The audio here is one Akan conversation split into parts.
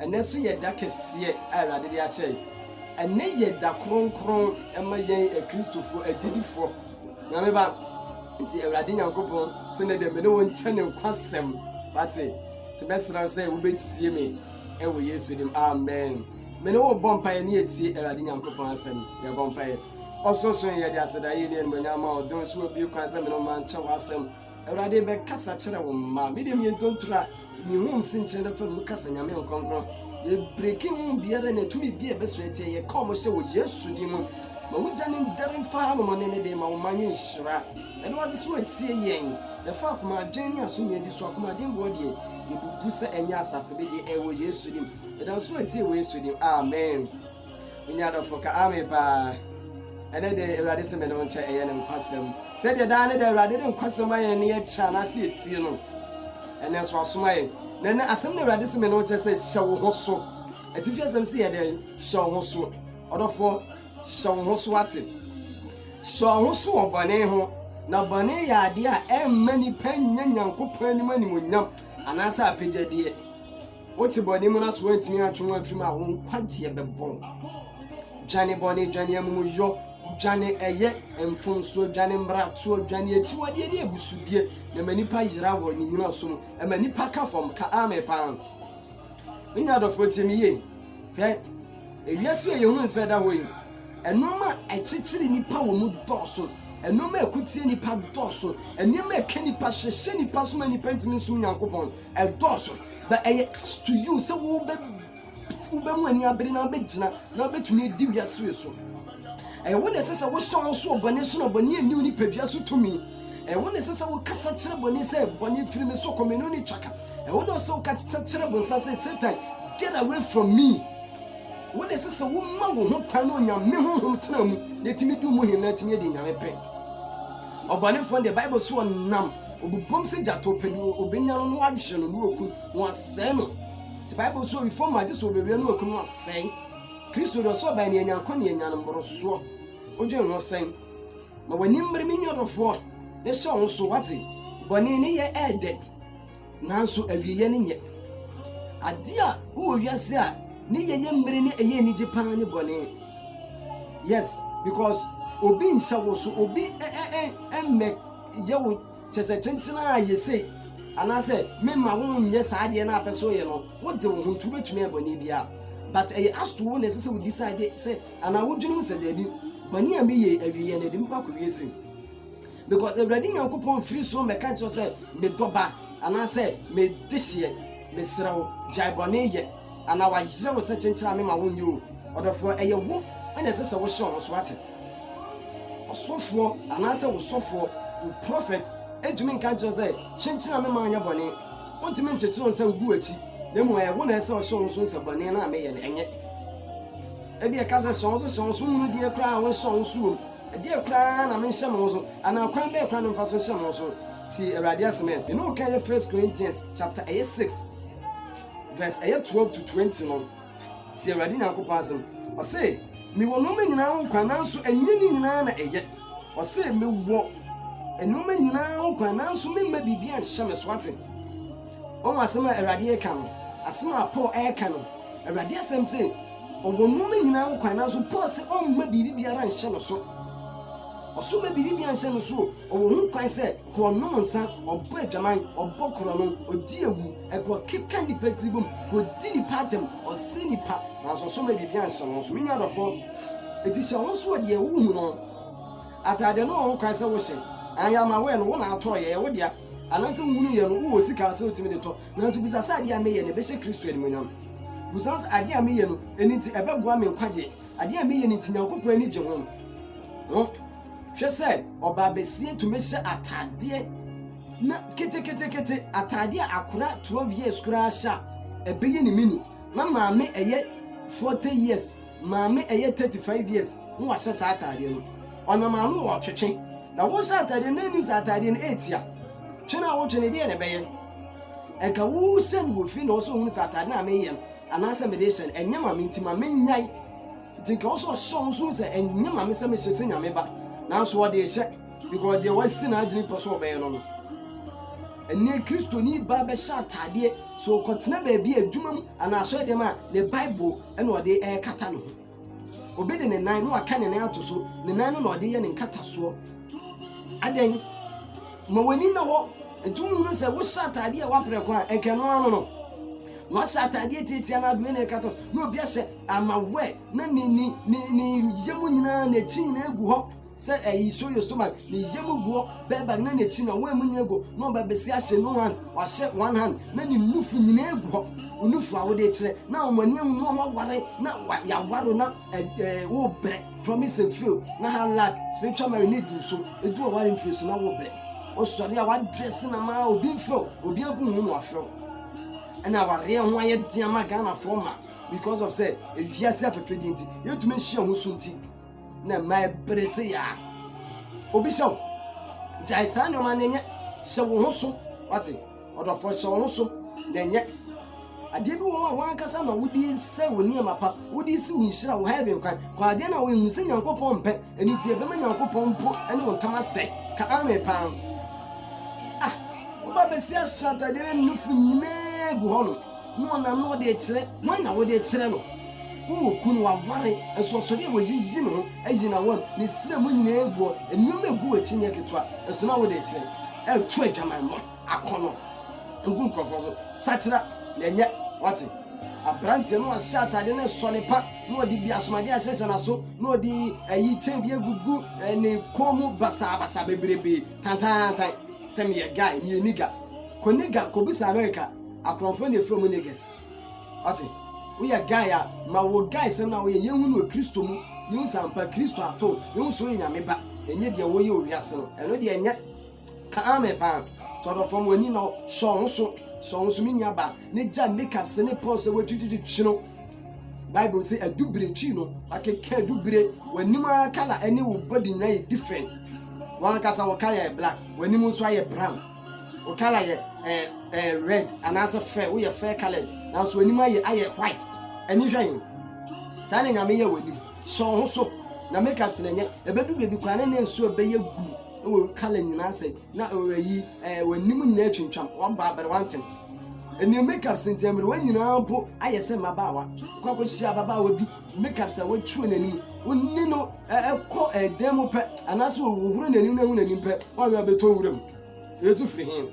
Ɛnnɛ nso yɛ da kɛseɛ a Awurade de akyɛ yɛn. Ɛnnɛ yɛ da kronkron ma yɛn Akristofoɔ agyidifoɔ. Nyame ba. Nti Awurade Nyankopɔn sɛ ne deɛ me ne wo nkyɛ ne nkwasɛm. Wate? Nti mɛsrɛ wo sɛ wobɛtie me ɛwɔ Yesu dim. Amen. Me ne wo bɔ mpaeɛ ne yɛtie Awurade Nyankopɔn asɛm. Yɛbɔ mpaeɛ. Ɔsorosoro yɛde asedaeɛ ne animuonyam ma ɔdom so wabue kwan sɛ me ne wo ma nkyɛ w'asɛm. Awurade bɛkasa kyerɛ wo mma. Me deɛ meyɛ ntontura a mehum senkyerɛ da fam mu kasa Nyame nkronkron. Yɛbreki ho biara ne tumi bi a ɛbɛsɔ atia yɛ ka ɔmo hyɛ wɔ Yesu din mu. Ma wo gya no ndɛre mfa ha nom ɔne ne de ma wo man yɛ nhyira. Yɛda wo ase sɛ watie yɛn. Yɛfa akoma adwen ne aso nyɛ di so akoma den boɔ deɛ yɛbubu sɛ ɛnyɛ asase bedeɛ ɛwɔ Yesu dim. Yɛda wo so watie wɔ Yesu dim. Amen. Nya adɔfo ka Amen paa. Ɛnɛ deɛ Awurade se me ne wo nkyɛ ɛyɛ ne nkwasɛm. Sɛdeɛ daa ne daa Awurade de nkwasɛm ayɛn ne yɛkyɛ anaase yɛtie no, ɛnɛ nso wasoma yɛn. Na ɛnɛ asɛm ne Awurade se me ne wo nkyɛ sɛ hyɛ wo ho so. Atifi asɛm se yɛ dɛn? Hyɛ wo ho so. Ɔdɔfoɔ, hyɛ wo ho so wate. Hyɛ wo ho so wɔ bɔne ho. Na bɔne yɛ adeɛ a ɛmma nipa nya Nyankopɔn anim animonyam anaasɛ apɛgyadeɛ. Wote bɔne mu na so woantumi antwe ho amfiri mu a, wo nkwagyeɛ bɛbɔ wo. Dwane bɔne, dwane amumuyɔ, dwane ɛyɛ, mfomsoɔ, dwane mmaratoɔ, dwane akyiwadeɛ ne abusudie, na ma nnipa yera wɔ ne nnyinaso mu, ma nnipa ka fam, ka amen paa. Me nua adɔfoɔ tie me yie, hwɛ, ewiase yɛ yɛhunu nsɛ da hɔ yi, ɛnoɔma a ɛkyekyere nnipa wɔ mu dɔɔso, ɛnoɔma a ɛkotie nnipa dɔɔso, nneɛma a ɛka nnipa, hyehyɛ nnipa so ma nnipa ntumi nsom Nyankopɔn. ɛdɔɔso but ɛyɛ us to you sɛ wobɛ wobɛmu ani abere na wobɛgyina na wobɛtumi adi wiase wei so ɛyɛ wo na ɛsɛ sɛ wohyɛ wɔn so wɔ bɔne so na bɔne anni wo nipadua so tumi ɛyɛ wo na ɛsɛ sɛ wokasa kyerɛ bɔne sɛ bɔne firi me so kɔ me no ne twaka ɛyɛ wo na ɔsɛ wokasa kyerɛ bɔnsa sɛ satan get away from me wo na ɛsɛ sɛ woma wo ho kwan na onyame honhom tena mu na ɛtumi di mu he na ɛtumi adi nyame pɛ Ɔbɔnefo no deɛ, Bible se ɔnam obubom sɛ gyata ɔpɛ deɛ ɔbɛnya no na wahwe no na waku no na wasɛe no. Nti Bible se owifo mma gye sɛ ɔbɛwia na waku no asɛe. Kristo deɛ ɔsɛ ɔbae ne anya nkwa ne anya no mmorosoɔ. Wodwen ho sɛn? Ma w'ani mmere me nua ɔdɔfoɔ na hyɛ wo ho so, wate? Bɔne ne yɛ ɛɛdɛ. Nanso awieeɛ no nyɛ. Adeɛ a wowɔ wiase a ne yɛ yɛ mmere ne ɛyɛ anigye paa ne bɔne. Yes, because obi nhyɛ wo so, obi mmɛ yɛ wo kyɛ sɛ kyenkyena a yɛ sei anaasɛ memma wo nyɛ saa adeɛ no a pɛ sɛ ɔyɛ no wode wo ho nti wobɛtumi ayɛ bɔne biara but ɛyɛ asto wo na ɛsɛ sɛ wo decide sɛ anaa wodwene mu sɛ daabi bɔne a meyɛ awieɛ no ɛde mpa kɔwie sei Because Awurade Nyankopɔn mfiri soro mmɛka nkyerɛ sɛ, me dɔ ba, anaasɛ me dehyeɛ, mesrɛ wo, gyae bɔne yɛ, anaa wayere wo sɛ kyenkyera me ma wo nyɛ o. Ɔdɔfoɔ, ɛyɛ wo na ɛsɛ sɛ wohyɛ wɔn so ate. Ɔsɔfoɔ, anaasɛ wo sɔfoɔ, wo prophet, ntumi nka nkyerɛ sɛ, kyenkyera me ma nyɛ bɔne. Ɔntumi nkyekyere wɔn sɛ wogu w'akyi, na mmom ɛyɛ wo na ɛsɛ sɛ ɔhyɛ wɔn so hu sɛ bɔne no a meyɛ no, ɛnyɛ. Ebia ɛka sɛ hyɛ wɔn so, hyɛ wɔn so nwunu deɛ koraa a wonhyɛ wɔn so wom. Ɛdeɛn koraa na menhyɛ mo so? Anaa ɔkwan bɛn koraa na memfa so nhyɛ mo so? Tie Awurade asɛm ɛ. Mene wo kan yɛ First Corinthians chapter ɛyɛ six verse ɛyɛ twelve to twenty no. Tie Awurade Nyankopɔn asɛm. Ɔse, mewɔ nnoɔma nyinaa ho kwan nanso ɛnyɛ ne nyinaa na ɛyɛ. Ɔse, mewɔ nnoɔma nyinaa ho kwan nanso memma biribiara nhyɛ me so ate. Wɔn asɛm a Awurade reka no, asɛm a Paul reka no, Awurade asɛm se, Ɔwɔ nnoɔma nyinaa ho kwan, nanso Paul se ɔmma biribi biara nhyɛ no so. Ɔse ɔmma biribi biara nhyɛ no so o, ɔwɔ ho kwan sɛ kɔ ɔnom nsa, ɔbɔ adwaman, ɔbɔ korɔno, ɔdi awu, ɛkɔ keka nnipa tiri bom, kɔ di nnipa atɛm, ɔse nnipa, nanso ɔse ɔmma biribi anhyɛ no so. Me nua dɔfoɔ, eti hyɛ wo ho so wɔ deɛ wo hu no ho. Ataadeɛ no ɔwɔ ho kwan sɛ wo hyɛ, and yɛ ama wo ɛ no, wo na atɔɔ yɛ, ɛyɛ wo dea, anaasɛ wo hunu yɛ no, wo wɔ sika a sɛ wo tumi de tɔ, Nanso bisa sɛ, 'Ade a meyɛ no, ɛbɛhyɛ Kristo animuonyam? Bisa sɛ, 'Ade a meyɛ no, ɛno nti ɛbɛboa me nkwagye? Ade a meyɛ no nti, Nyankopɔn ani gye ho? Ho. Hwɛ sɛ ɔbaabasia tumi hyɛ ataadeɛ na keteketekete, ataadeɛ a akora 12 years koraa hyɛ a, ɛbɛyɛ ne mini. Na maame ɛyɛ 40 years, maame ɛyɛ 35 years na wahyɛ saa ataadeɛ no. Ɔnam ano ɔretwetwe. Na wohyɛ ataadeɛ no na ɛnim sɛ ataadeɛ no ɛretia. Twe no a wotwe no, ɛdeɛn na ɛbɛyɛ? Nka wohu sɛ mewɔ fie na ɔwɔ sɛ ohunu sɛ atade no a meyɛ no anaasɛ mede rehyɛ no, ɛnyɛ ma me nti ma mennyae. Nti nka ɔwɔ sɛ ɔhyɛ ɔno nso hu sɛ ɛnyɛ ma me sɛ mehyɛ sɛ Nyame ba, nanso ɔde rehyɛ, because deɛ wasi n'adwene pɛ sɛ ɔbɛyɛ no no. Ɛnneɛ Kristoni ba bɛhyɛ atadeɛ sɛ ɔrekɔtena baabi a adwuma mu anaa asɔre dɛm a, ne Bible na ɔde rekata ne ho. Obi de ne nan na waka ne nan ato so, ne nan no na ɔde yɛ ne nkatasoɔ. Adɛn? Ma w'ani nna hɔ. Nti wohunu sɛ wohyɛ ataadeɛ a ɛwɔ aprɛko a, nka ɛno ano no. Na wahyɛ ataadeɛ tiatia no adoe na ɛkata na obi ahyɛ amawɛ na ne ne ne ne yam nyinaa n'akyi nyinaa gu hɔ. Sɛ eyi so yɛ stomach ne yamu guɔ bɛ ba na n'akyi na wɔn mu nyinaa gu hɔ na ɔba bɛsi ahyɛ no hand wahyɛ one hand na ne nufu nyinaa gu hɔ wo nufu a wode kyerɛ na wɔn ani ahunu na wɔaware na wa yɛaware na ɛɛ wobrɛ promise and fail na hard luck spiritual marriage ne du so edu ɔware mfiri so na wobrɛ wosɔre a wadrɛse na maa obi mfrɛ obi agu ho na wafrɛ wo ɛna awareɛ ho ayɛ den ama ghanafoɔ ma because of sɛ ewiase afɛfɛdeɛ nti yɛntumi nhyia ho so nti na mma ɛbere se yɛ a obi sɛ wo gyae saa nneɛma no nyɛ hyɛ wo ho so wate ɔdɔfoɔ hyɛ wo ho so na nyɛ adeɛ bi wɔ hɔ a wankasa na wode sɛ wo nneɛma pa wode si wo nhyira wo heaven kwan kɔ adeɛ no a wohu sɛ nyankopɔn mpɛ ɛno nti ɛbɛma nyankopɔn mpo ne wo ntam asɛ ka ame paa ah woba bɛsi ahyɛ atadeɛ no nufu nyinaa gu hɔ no Ne ɔnam na ɔde kyerɛ. Hwan na wode kyerɛ no? Wo wɔ kunu, waware, nso ɔsɔre a wayiyi ne ho ayi n'awam, ne srɛ mu nyinaa agu hɔ, nneɛma a egu w'akyi nyɛ ketewa, nso na wode kyerɛ. Ɛreto adwamammɔ, akɔnnɔ, ngu nkurɔfoɔ so, sakyera, na ɛnyɛ. Wate? Aberanteɛ no a ɔhyɛ ataadeɛ na ɛsɔ ne pa, na ɔde bi asomadeɛ ahyehyɛ n'aso, na ɔde ayi kyɛn bi agugu ne kɔn mu basabasa bebrebe, tantaantan, sɛ, Meyɛ guy, meyɛ nigga. Kɔ nigga, kɔbisa Amerika. Akorɔmfoɔ na efrɛ ɔmo niggas. Wate? Woyɛ guy a, ma wo guy sɛm no a woyɛ yɛnhu no wɔ Kristo mu, yɛnhu sɛ ampa Kristo atɔ wo, yɛnhu sɛ woyɛ Nyame ba, ɛnyɛ deɛ woyɛ wɔ wiase no, ɛno deɛ ɛnyɛ kaa me paa. Tɔdɔ fam w'ani na hyɛ wo ho so, hyɛ wo ho so me nua baa, ne gya makeup se ne pɔn sɛ w'atwitwitwi twi no. Bible se adubire twi no, wakeka adubire, w'anim ara colour ne wo body nyinaa yɛ different, w'ankasa wo ka yɛ black, w'anim nso ayɛ brown. wo colour yɛ ɛɛ ɛɛ red anaasɛ fair woyɛ fair colour nanso w'anim ayɛ ayɛ white ani hwɛ yi saa na nyame yɛ w'anim hyɛ wo ho so na make up sene nyɛ ɛbɛdu baabi kwan ne ne nso ɛbɛyɛ gu wɔ colour nyinaa sɛ na ɛyi ɛɛ w'anim nyinaa twintwam wabɔ abɛrɛ wantem ɛnneɛ make up sentɛn mmerɛ wɔn nyinaa mpo ayɛ sɛ mmabaawa kɔ akɔhyia ababaawa bi Makeup sɛ wotwere n'ani wo ne no ɛkɔ ɛdan mu pɛ anaasɛ wohoro n'ani no ahu n'anim pɛ woanwɛ abɛtɔ nwura mu yesu firi he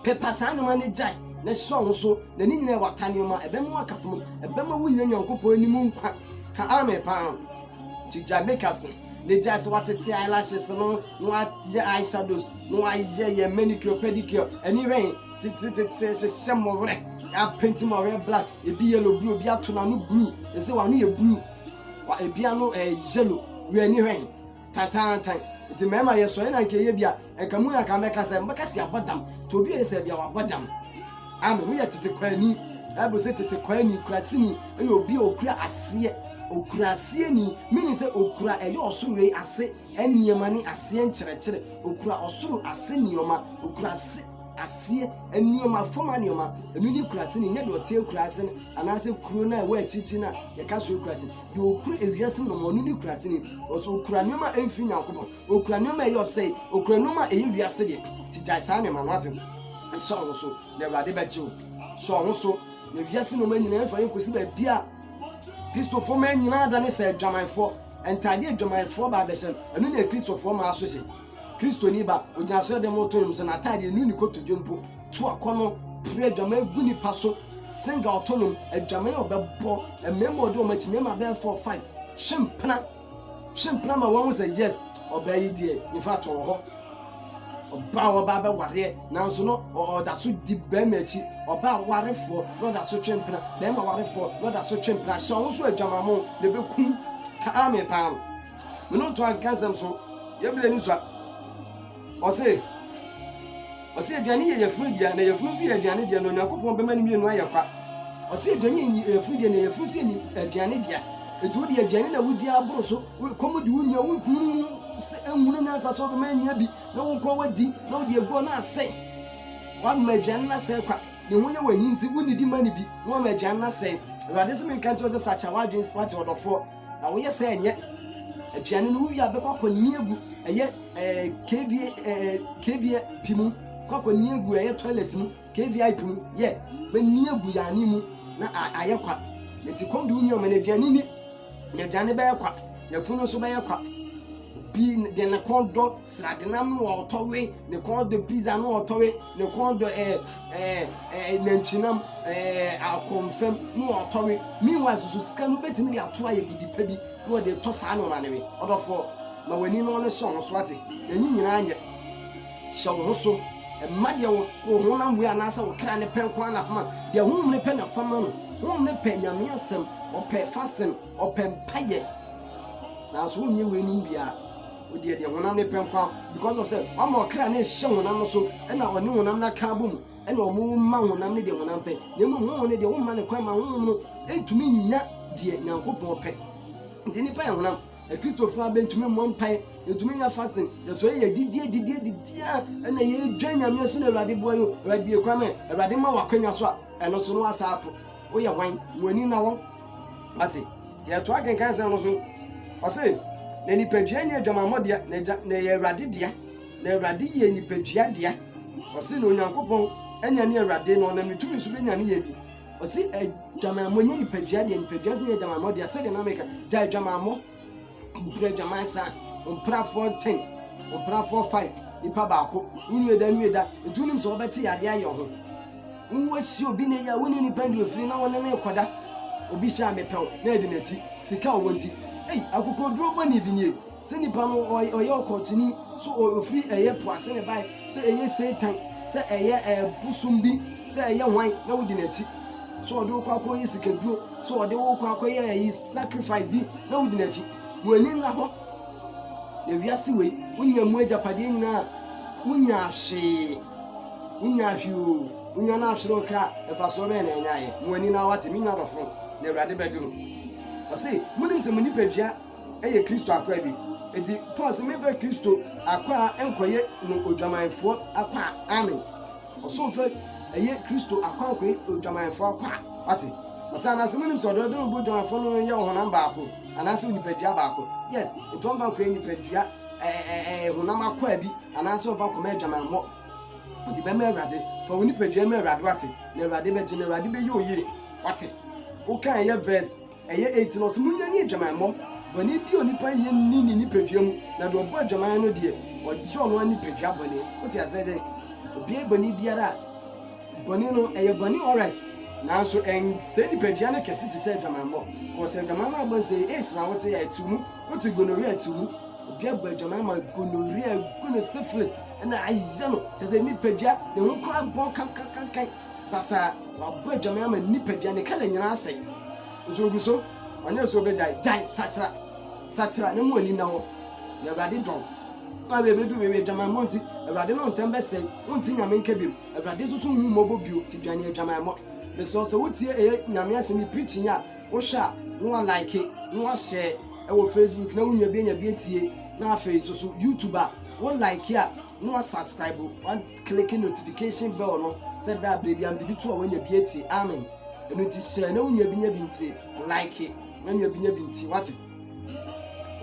pepa saa nneɛma no gyae na hyɛ wo so na ne nyinaa wata nneɛma ɛbɛma waka fam ɛbɛma wonya nyankopɔn anim nkwa ka ame paa nti gyae makeups no ne gyae sɛ watete eyelashes no na wayɛ eyeshadows na wayɛ yɛ manicure pedicure ɛne wɛn Titititi hyehyɛ mo werɛ. Apenti mo werɛ black. Ebi yellow blue. Ebi ato n'ano blue. Ese wɔn ano yɛ blue. Wa ebi ano ɛɛ eh, yellow. Wia ani hwɛ he. Tantantan. Nti mmarima yɛ sɔre na nka eye bi a nka mu anka mɛka sɛ mɛka si abɔ dam. Nti obi yɛ sɛ bi a wabɔ dam. Amen. Woyɛ tete kwani. Bible sɛ tete kwani kurasini ɛyɛ obi a okura aseɛ. Okura aseɛ ni. Meaning sɛ okura ɛyɛ ɔsoro wei ase. nneɛma ne aseɛ nkyerɛkyerɛ, ɔkura ɔsoro ase nneɛma, ɔkura ase aseɛ nneɛma, fam anneɛma, ɛno ne kurase no, nyɛ deɛ ɔte akurase no, anaasɛ kuro no a ɛwɔ akyirikyiri no a yɛka so akurase, deɛ ɔkura ewiase mu nneɛma, ɔno ne kurase no, ɔsɛ ɔkura nneɛma a ɛmfiri Nyankopɔn, ɔkura nneɛma a ɛyɛ ɔsɛe, ɔkura nneɛma a ɛyɛ wiase deɛ, ti gyae saa nneɛma no ate, hyɛ wo ho so, na Awurade bɛgye wo, hyɛ wo ho so, na wiase nneɛma nyinaa ɛmfa yɛn kɔsi baabi a Kristofo mmaa nyinaa da ne sɛ adwamanfoɔ. Ntade a adwamanfoɔ ba abɛhyɛ no, ɛno na Akristofoɔ mmaa nso hyɛ. Kristoni ba, ɔgyina asɔreden mu reto nnwom sɛ n'atade anu ne kotodwe mpo, to akɔnnɔ, pere adwaman gu nnipa so, senga ɔto nnwom, adwaman a ɔbɛbɔ, mmarima a ɔde wɔn akyi, mmarima bɛyɛ four five, twe mpena, twe mpena ma wɔahu sɛ yes, ɔbaa yi deɛ, in fact, ɔwɔ hɔ. ɔbaa a ɔbaa bɛwareɛ nanso no ɔda so di bɛrima akyi ɔbaa warefoɔ na ɔda so twe mpena bɛrima warefoɔ na ɔda so twe mpena hyɛ ɔho so adwamamo na ɛbɛkum kaa me paa no me ne ɔtɔ anka nsɛm so yɛbile ne sua ɔse ɔse aduane yɛ yɛfunu deɛ na yɛfunu nso yɛ aduane deɛ na onyankopɔn bɛma no mmienu ayɛ kwa ɔse aduane yɛ yɛfunu deɛ na yɛfunu nso yɛ aduane deɛ ɛti wo deɛ aduane na wodi aboro so Wo ɛkɔm de wo nua, wo nkunu no mu se ahunu nyansa sɛ ɔbɛma anya bi na wo nko ara woadi, na wode agu ɔno asɛe. Woama aduane no asɛe kwa, ne ho yɛ wo ahi nti, wonnidi mma no bi, na woama aduane no asɛe. Awurade se menka nkyerɛ wo sɛ sakra w'adwene, woate ɔdɔfoɔ, na woyɛ sɛ ɛnyɛ aduane no wowie a bɛkɔ akɔnni agu ɛyɛ KVAP mu, kɔ akɔnni agu ɛyɛ toilet mu. KVIP no yɛ, M'ani agu Yaani mu na ayɛ kwa, enti kɔm de wo nua ma no aduane nni, n'aduane bɛyɛ kwa, n'afunu nso bɛyɛ kwa. Obi de ne kɔn dɔ sradenam no a ɔtɔ we, ne kɔn dɔ pizza no a ɔtɔ we, ne kɔn dɔ ɛɛ ɛɛ ɛɛ nantwinam ɛɛ akɔnfam no a ɔtɔ we. Meanwhile soso sika no wobɛtumi de ato ayɛ biribi pa bi na wɔde retɔ saa nneɛma no we. Ɔdɔfoɔ, ma w'ani na ɔno hyɛ ɔno so ate, na ɛyi nyinaa nyɛ. Hyɛ wo ho so. Mma deɛ wo wo honam wei anaasɛ wo kra no pɛ nko ara na fa ma. Deɛ honhom no pɛ na fa ma no. Honhom no pɛ Nyame asɛm, ɔpɛ fasting, ɔpɛ mpaeɛ. Nanso wonyɛ weinom biara. Wo deɛ deɛ honam no pɛ nko ara because of sɛ wama ɔkra no ahyɛ honam no so ɛna ɔne honam no aka abom ɛna wɔn ma honam no deɛ honam pɛ. Na mmom honhom no deɛ womma no kwan ma honhom no ntumi nnya deɛ Nyankopɔn pɛ. Nti nnipa yɛ honam. Akristofo a bentumi mmɔ mpae, yɛtumi nyɛ fasting, yɛsɔre yɛ didi didi didi a ɛna yɛdwa nyame so na awurade boa yɛ awurade bie kwan mɛ awurade ma wakwanya so a ɛno so no asa ato woyɛ hwan mo ani na wɔn ate yɛto akenkan sɛm no so ɔse na nipadua nyɛ adwamammɔ dea na ɛyɛ awurade dea na awurade yɛ nipadua dea ɔse na onyankopɔn anya ne awurade na ɔnam ne tumi so bɛnya ne yɛ bi Ɔsi adwamammɔ nyɛ nipadua deɛ, nipadua nso nyɛ adwamammɔ deɛ. Sɛdeɛ na meka, gya adwamammɔ, mpira adwaman saa, mpirafoɔ ten, mpirafoɔ five, nipa baako, wunue da nue da, nti wonim sɛ wɔbɛte yadeɛ ayɛ ho. Woasi obi na yɛ, wone nipa ndi ofiri na wɔne ne kɔda. Obi hyɛ a mepɛw na ɛde n'akyi, sika ɔwɔ nti. Ei, akokoduro bɔne bi nie. Sɛ nipa no ɔyɛ ɔkɔntoni sɛ ɔfiri ɛyɛ po ase na ɛbaeɛ, sɛ ɛyɛ Satan, sɛ ɛyɛ bosom bi, sɛ ɛyɛ hwan na wodi n'akyi, sɛ ɔde wo kɔ akɔyɛ sikaduro, sɛ ɔde wo kɔ akɔyɛ ayi sacrifice bi na wodi n'akyi, w'ani nna hɔ na wiase wei wonya mu agyapadeɛ nyinaa wonya hwee wonya hwee o wonya no ahwere okra mfasoɔ bɛyɛ na ɛnyaeɛ mo ani na wate me nwa dɔfo na awurade bɛgye mo ɔse monim sɛ mo nipadua yɛ Kristo akwaa bi. Enti Paul se, Memfa Kristo akwaa nkɔye no odwamanfoɔ akwaa. Amen. Ɔsomfo ye Kristo akwaa nkɔye odwamanfoɔ akwaa. Wate? Ɔse, Anaase monim se ɔdɔ dene bo dwamanfoɔ no ye ɔhonam baako, anaase onipadua baako? Yes. Enti ɔmfa nkɔye nipadua, ɛɛ, honam akwaa bi, anaase ɔmfa nkɔma adwamammɔ. Ɔde bɛma Awurade. Fa wo nipadua ma Awurade, wate? Na Awurade bɛgye no, Awurade bɛyɛ wo yie. Wate? Wokaeɛ verse. Ɛyɛ enti na ɔse, Monyane adwamammɔ, bɔne bi a onipa nyɛ nni ne nipadua mu, na deɛ ɔbɔ adwaman no deɛ, ɔgye ɔno ara nipadua bɔne. Wote aseɛ sɛ, obiara bɔne biara a, bɔne no, ɛyɛ bɔne alright, nanso ɛnsɛe nipadua no kɛse te sɛ adwamammɔ, cause adwamammɔ a ɛbɔ no, sɛ ɛyɛ AIDS na wote a, ɛtew mu, wote gonorrhea a, ɛtew mu. Obiara bɔ adwaman ma gonorrhea agu no, syphilis na ayɛ no, kyerɛ sɛ nipadua, ne ho koraa bɔn kankankankan. Basaa, wabɔ adwaman ama nipadua, ne kala nyinaa asɛe. Nso ogu so, ɔnyɛ sɛ obegyae. Gyae! Sakyera! Sakyera, na mu ani nna hɔ, na Awurade dɔ wo. Wo a w'ebedu w'ewi adwamammɔ nti, Awurade no ntɛm bɛsɛe, wonte Nyame nka bio, Awurade nso so nhu mmɔbɔ bio, nti dwane adwamammɔ. Mesrɛ wo, sɛ wotie ɛyɛ Nyame asɛm yi preaching yi a, wohwɛ a, na wa like, na wa share ɛwɔ Facebook, na wo nua bi anya bi atie, na afei nso so YouTube a, wo like a, na wa subscribe, wa. Click notification bell no sɛ da bere bia mede bi to a wanya bi atie amen ɛno nti hyɛ na wo nua bi nya bi nti like na nua bi nya bi nti wate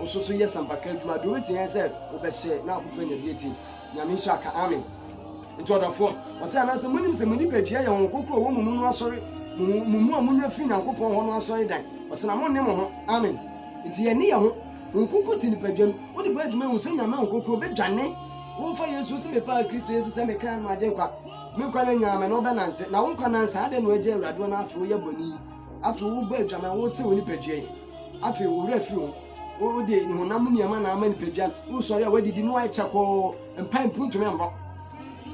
nso so yɛ sampaka adwuma deɛ wobɛtumi yɛ sɛ wobɛhyɛ na afoforɔ anya bi atie nyame nhyɛ aka amen nti ɔdɔfoɔ ɔsɛ anaasɛ monim sɛ mo nipadua yɛ wɔn kokoro wɔ mo mu no asɔre mo mu a monya firi nyankopɔn hɔ no asɔre dan ɔsɛ na monne mo ho amen nti yɛne yɛ ho wɔn kokoro te nipadua no wode bɔ adwuma hu sɛ nyame wɔn kokoro bɛdwane Womfa Yesu nsi Mefaa Kristo Yesu sɛ me kra no Agyenkwa Me nkwa no nyaa me na wobɛnante Na wo nkwa nansa Adɛn na woagyae Awurade hɔ Na afei woyɛ bɔne yi Afei wobɔ adwaman Wosɛe wo nipadua yi Afei wo werɛ afiri ho Wode honam nneɛma na ama nipadua no Wosɔre a woadidi na woayɛ kyakoo Mpae mpo wontumi mmɔ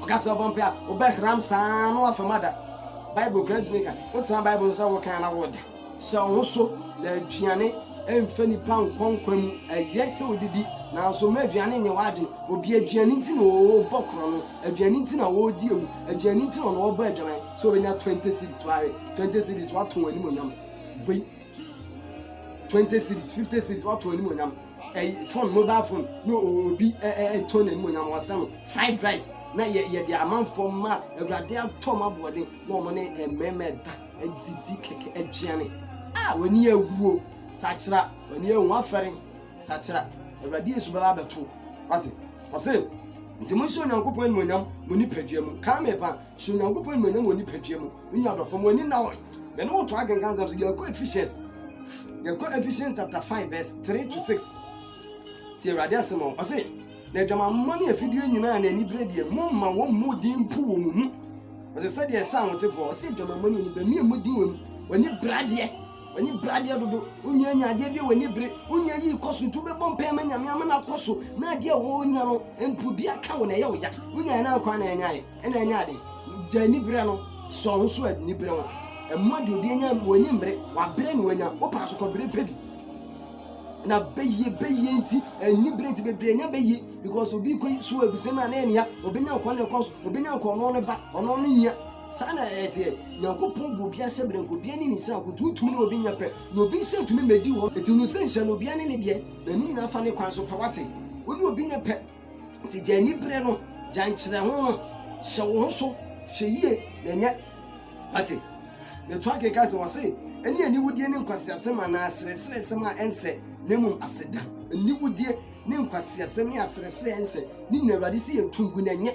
Ɔka sɛ ɔbɔ mpae a wobɛhram saa na woafam ada Bible kura ntumi nka Wotena Bible ho sɛ wokan na woda Hyɛ wo ho so na aduane mfa nnipa nkɔ nkwa mu. Ɛyɛ sɛ wodidi, nanso mma aduane nyɛ w'adwene. Obi aduane nti na ɔrebɔ korɔno, aduane nti na ɔredi awu, aduane nti na ɔno ɔrebɔ adwaman sɛ obenya twenty cedis. Wahwɛ twenty cedis, watɔn animuonyam. Wei twenty cedis, fifty cedis, watɔn animuonyam. Ɛyi phone, mobile phone, na obi ɛtɔn n'animuonyam, wɔsɛ no fried rice na yɛ yɛde amanfoɔ ma awurade atɔ ma boɔden na wɔn ne mmarima ɛda. Adidi kɛkɛ, aduane a w'ani awuo, sakyera, w'ani awu, w'afɛre, sakyera, Awurade Yesu bɛba abɛto wo. Wate? Ɔse, nti monhyɛ Onyankopɔn animuonyam mo nipadua mu. Kaa me pa, hyɛ Onyankopɔn animuonyam wɔ nipadua mu. Me nua adɔfo, mo ani na wɔn. Me ne wo to akenkan sɛm so, yɛkɔ Ephesians, yɛkɔ Ephesians chapter 5 verse 3 to 6. Ti Awurade asɛm ɔn, ɔse, Na aguamammɔ ne afideyɛ nyinaa a na ani bere deɛ, momma wɔmmɔ din mpo wɔ mo mu. Ɔse sɛdeɛ ɛsɛ ahotefoɔ, ɔse aguamammɔ ne anibere, mmea mmɔ din wɔ mu. W'ani bere adeɛ, w'ani bere adeɛ dodo, wonnya anya adeɛ bi a w'ani bere, wonnya yii kɔ so nti wobɛbɔ mpaeɛ ma Nyame ama no akɔ so, na adeɛ a wonya no mpo bi aka wo na ɛyɛ wo ya, wonyaeɛ no ankɔ a na ɛnyɛ ade, ɛna ɛnyɛ ade. Gya anibere no, sɔ wo ho so anibere ho, mmoa deɛ obi anya, w'ani mmere, w'abere na wanya, wopaa so kɔbere pɛ bi. na bɛyie bɛyie nti anibere nti bebree nya bɛyie because obi kɔ so abusua no a na yɛ nea obɛnya nkwa na ɛkɔ so obɛnya nkwa ɔno ne ba ɔno ne nya saa na ɛteɛ nyankopɔn bɔ obi ahyɛ berɛ nka obia ne ne sɛ akoto wotumi ne obi nya pɛ na obi sɛ tumi mɛdi hɔ ɛti no sɛ nhyɛ no obia ne ne deɛ na ne nyinaa fa ne kwan so pɛ wate wo ne obi nya pɛ Enti gya ani bere no, gya nkyerɛho no, hyɛ wo ho so, hwɛ yie na nya. Ate? Yɛtoa kenkan sɛ wɔse, ɛne aniwudie ne nkwaseasɛm anaa aserɛserɛsɛm a ɛnsɛ, na mmom aseda. Aniwudie ne nkwaseasɛm ne aserɛserɛ a ɛnsɛ, ne nyinaa Awurade se yɛnto ngu na ɛnyɛ.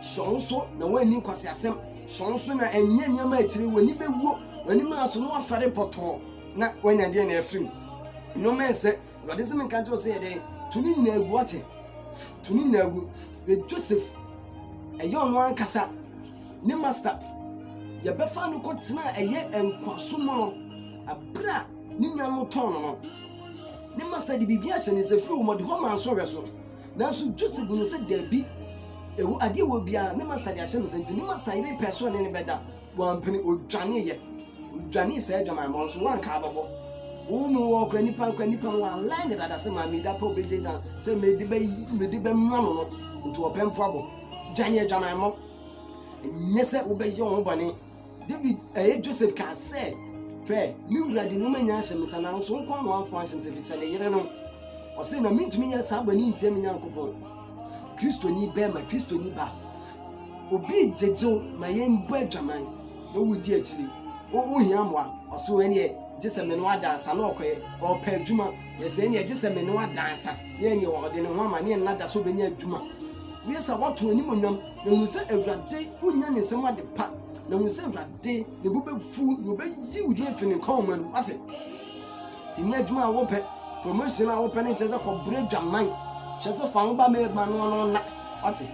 Hyɛ wo ho so na woanni nkwaseasɛm. Hyɛ wo ho so na ɛnyɛ nneɛma a akyire yi w'ani bɛwuo, w'anim aso na woafɛre pɔtɔɔ na woanya deɛ na afirim. Nneɛma a ɛnsɛ, awurade sɛ menka nkyerɛ wo sɛ yɛ dɛn to ne nyinaa gu wate to ne nyinaa gu bɛ joseph ɛyɛ ɔno ankasa ne master yɛbɛfa no kɔtena ɛyɛ nkwaso mu no ɛberɛ a ne nua no tɔn no no ne master de biribi ahyɛ ne nsa firi wɔn de hɔ maa nso hwɛ so nanso joseph no sɛ daabi ɛwɔ adeɛ wɔ biara ne master de ahyɛ ne nsa nti ne master yere pɛ so ne ne bɛda Wampene, odwaneeɛ. Odwanee saa adwamammɔ no so, wanka abɔbɔ. Wo mu wɔ kora nipa kora nipa no align ne dada sɛ maa mi da pa obegye dan sɛ mede bɛ mede bɛ ma no no nti ɔpɛmfo abɔ dwane adwamammɔ nyɛ sɛ wobɛyɛ wɔn bɔne David ɛyɛ eh, Joseph kaa sɛ hwɛ me wura de nneɛma nyinaa hyɛ me nsa nanso wo nkoa na wamfa anhyɛ me sɛ fisɛ ne yere no ɔse na mentumi nyɛ saa bɔne ntia me Nyankopɔn Kristoni bɛrima Kristoni ba Obi gyegyew ma yɛbɔ adwaman na wodi akyiri. Wo wohia mmoa? Ɔse wo ɛneɛ gye sɛ me ne wo adansa na ɔkɔɛ. Ɔɔpɛ adwuma, yɛse ɛneɛ gye sɛ me ne wo adansa na ɛneɛ ɔde ne ho ama na ɛnna da sɛ ɔbɛnya adwuma. Woyɛ saa woato animuonyam na hunu sɛ Awurade wonya ne nsam ade pa na hunu sɛ Awurade ne bo bɛfu na ɔbɛyi wo din afi ne nkwamma mu. Wate? Nti nyɛ adwuma a wopɛ, promotion a wopɛ no nkyerɛ sɛ kɔbrɛ adwaman. Kyerɛ sɛ fa wo ba ma ma no ɔno nna. Wate?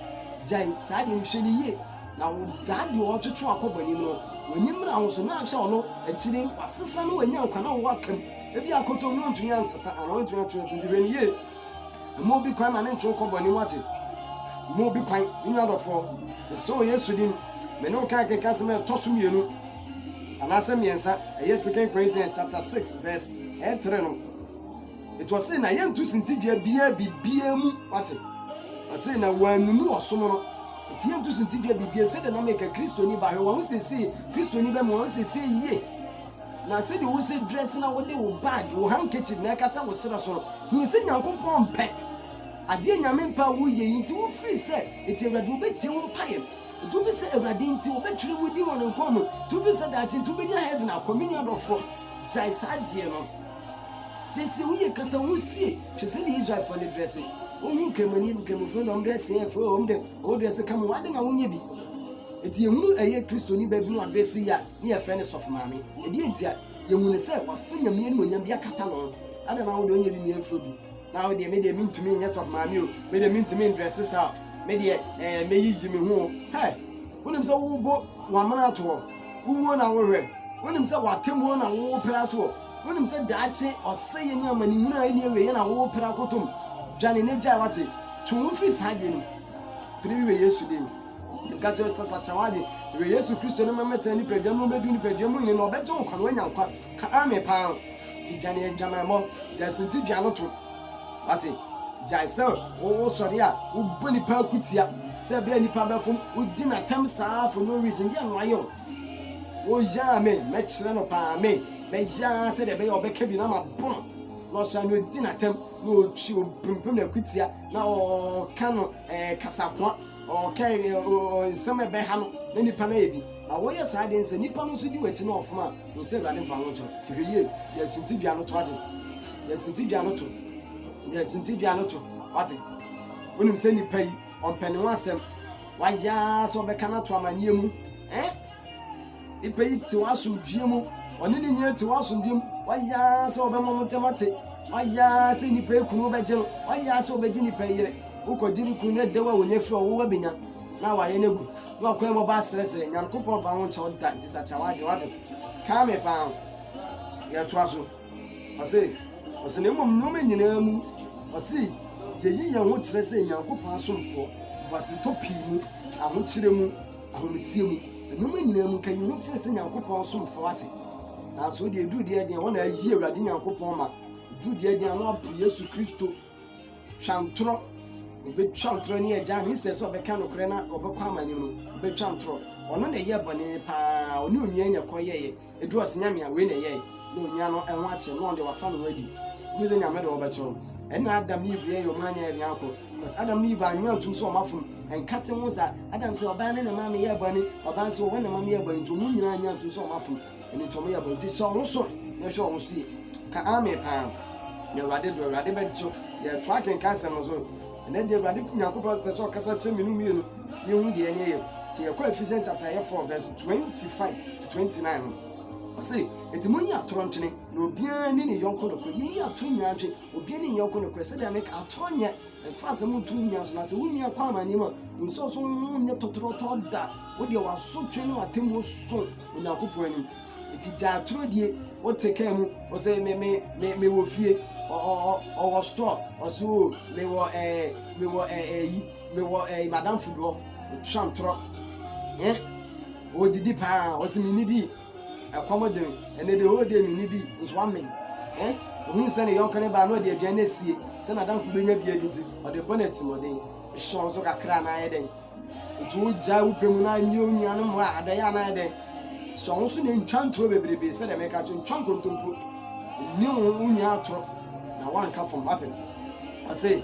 Gyae saa deɛ no, hwɛ no yie. Na wo daa deɛ ɔretwetwe akɔ bɔ anim no, w'ani mmra ho so na ahwɛ ɔno, akyire yi wasesa na wanya nkwa na wowɔ aka mu. Ebia akɔtɔ mu na ɔntumi ansesa anaa ɔntumi atwe ne ho so, nti hwɛ no yie. Mma obi kwan ma ne ntwe wo kɔ bɔne mu ate. Mma obi kwan. Me nua dɔfoɔ, mesrɛ wɔ Yesu din, me ne wo kan kenka asɛm a ɛtɔ so mmienu anaasɛ mmiɛnsa, ɛyɛ Second Corinthians chapter 6 verse ɛyɛ 3 no. Ɛti ɔse na yɛnto sintidua biaa bibiaa mu, wate. Ɔse na wɔanunu ɔsom no. Ɛti yɛnto sintidua bibiaa mu, sɛdeɛ na meka Kristoni ba, hwɛ wɔn ho siesie, Kristoni ba mu wɔn ho siesie yie. Na sɛdeɛ wo sɛ dress na wode wo bag wo handkerchief na ɛkata wo serɛ so no hunu sɛ Nyankopɔn mpɛ adeɛ Nyame mpɛ a wo yɛ yi nti wo firi sɛ nti Awurade no bɛtie wo mpaeɛ nti wo firi sɛ Awurade nti ɔbɛ twerɛ wo din wɔ ne nkwa mu nti wo firi sɛ daakye nti wo bɛ nya heaven akɔ me nua dɔfoɔ gyae saa adeɛ no sɛsɛ wo yɛ kata ho sie hwɛ sɛdeɛ Israelfoɔ no dresse wo hu kramoni kramofoɔ na ɔm dress yɛ fɛ ɔm de ɔm dress ka mo ade na wo nyɛ bi nti yɛ hunu ɛyɛ kristoni bɛbi no adresse yi a ne yɛfrɛ no sɔfo maame. Ɛdeɛn nti a? Yɛhu no sɛ wafa Nyame animuonyam bi akata ne ho. Adɛn na wodeɛ wonyɛ winie mforo bi? Na wodeɛ medeɛ mentumi nyɛ sɔfo maame o, medeɛ mentumi ndrɛse saa o, medeɛ ɛɛ mɛyiyi me ho o. Hɛ! Wonim sɛ wobɔ wamena ato hɔ? Wowuo na wohwɛ? Wonim sɛ watemmuo na wopere ato hɔ? Wonim sɛ daakye ɔsɛeɛ ne amanehunu a ɛnni awieɛ na wopere akotom? Dwane na gyae wate. Twe wo ho firi saa adeɛ no mu. Pere wieɛ Yesu din mu. Nka kyerɛ no sɛ, Sakye w'adwene. Werɛ Yesu Kristo no ma mɛtena nipadua mu, mɛdu nipadua mu nyini, na ɔbɛgye wo nkwa na woanya nkwa. Ka Amen paa ho. Nti gya ne adwamammɔ. Gyae suntidua no to. Wate? Gyae sɛ wosɔre a wobɔ nnipa akutia sɛ ɛbɛyɛ nnipa bɛfom. Wodi n'atɛm saa for no reason. Deɛ na wayɛ wo. Woyɛ Amen. Mɛkyerɛ no paa Amen. Mɛyɛ ara sɛdeɛ ɛbɛyɛ ɔbɛka bi na mabɔ no. Na ɔsɔre na odi n'atɛm na ɔtwi ɔpempem no akutia na ɔka no ɛɛ kasakoa. Ɔkae nea nsɛm a ɛbɛha no na nnipa no ayɛ bi, na woyɛ saa de nsa nnipa no nso di w'akyi na wɔfom a, hu sɛ Awurade mfa wo ho nkyerɛ wo. Te hwɛ yie, yɛ suntidua no to ate. Yɛ suntidua no to. Yɛ suntidua no to wate. Wonim sɛ nnipa yi, ɔmpɛ ne ho asɛm. Wayɛ ara sɛ ɔbɛka no ato amanneɛ mu. Eh? Nnipa yi te wɔn asomdwoeɛ mu. Wɔne ne nyinaa te wɔn asomdwoeɛ mu. Wɔayɛ ara sɛ wɔbɛma wɔn ntam ate. Wɔayɛ ara sɛ nnipa yi kunu bɛgye no. Wɔayɛ ara sɛ wɔbɛgye nnipa yi yere. Wokɔgye ne kunu no ɛdɛw a wɔnya firi ɔwowa bɛnya na awareɛ no agu. Na wakwan mu ɔbaa serɛserɛ. Nyankopɔn mfa ho nkyɛ wo da nti sakya w'adwene wate. Kaa me paa ho. Yɛtoa so. Ɔse, ɔse na mmom nneɛma nyinaa mu ɔse yɛyi yɛn ho kyerɛ sɛ Nyankopɔn asomfoɔ, boasetɔ pii mu, ahokyerɛ mu, ahometeɛ mu. Nnoɔma nyinaa mu, nka yɛhu kyerɛ sɛ Nyankopɔn asomfoɔ ate. Nanso deɛ ɛduru deɛ deɛ, hɔ na ayi Awurade Nyankopɔn ma. Ɛduru deɛ deɛ, ano apo Yesu Kristo. Twa ntorɔ. Ɔbɛtwa ntorɔ ne agya no. Instead sɛ ɔbɛka nokorɛ na ɔbɛkɔ amanim no, ɔbɛtwa ntorɔ. Ɔno na ɛyɛɛ bɔne paa. Ɔne onua na ɛkɔyɛeɛ. Edu ɔse nyame a wei na ɛyɛe na onua no ho ateɛ no ɔno deɛ wafa ne ho adi wone sɛ nyame de wɔbɛkyɛ wo ɛne Adam ne Eve yɛyɛ ɔmo anyɛ yɛ nea akɔ but Adam ne Eve anyɛ antum so ɔmo afom ɛnkate ho sa Adam sɛ ɔbaa ne ne maame yɛ bɔne ɔbaa sɛ ɔwɔ ne maame yɛ bɔne nti ɔmo nyinaa anyɛ antum so ɔmo afom ɛne nti ɔmo yɛ bɔne nti sɛ ɔmo so na ɛhwɛ ɔmo so yɛ ka ame paa na awurade do awurade bɛgye yɛtoa kenkan sɛm no so Ɛnnɛ deɛ Awurade Nyankopɔn pɛ sɛ ɔkasa kyerɛ me no wie no, yɛhu deɛ ɛne ɛyɛ. Nti yɛkɔ Ephesians chapter yɛ 4 verse 25 to 29 no, ɔse, Enti monyi atorɔ ntwene, na obiara nni ne yɔnko nokorɛ. Monyi atorɔ nyinaa ntwe, obiara nni ne yɔnko nokorɛ. Sɛdeɛ meka, atorɔ nyɛ mfa asɛm nto wo nua so, na sɛ wo nua kɔ amanneɛ mu a, nsɔ so ho nyɛ tɔtorɔtɔ da. Wo deɛ w'asotwe ne w'atemmuo so Onyankopɔn anim. Eti gya atoro die wo te kaa mu ɔsɛ me me me me wɔ fie ɔwɔ store ɔsɛ o me wɔ ɛɛ eh, me wɔ ɛɛ eh, ɛyi eh, me wɔ ɛɛ madam food hɔ ɔtwa ntorɔ ɛn ɔdidi paa ɔsɛ me nidi ɛkɔm de me ɛnɛ de hɔ de me nidi nso ame ɛn ohun sɛ ne yɔnko ne ba na ɔde aduane asie sɛ madam food bɛnya bi adi nti ɔde bɔ n'atimɔden hyɛ wɔn so kakra na ayɛ dɛn. Enti wogyae wo pɛ mu na ɛne onua no mmoa a, adɛn a na ayɛ dɛn? Sɔ wo ho so na ntwa ntoro bebrebe, sɛdeɛ meka kyerɛ, ntwa nkontompo. Nni wo ho wo nua atoro na woanka fam. Wate? Ɔse,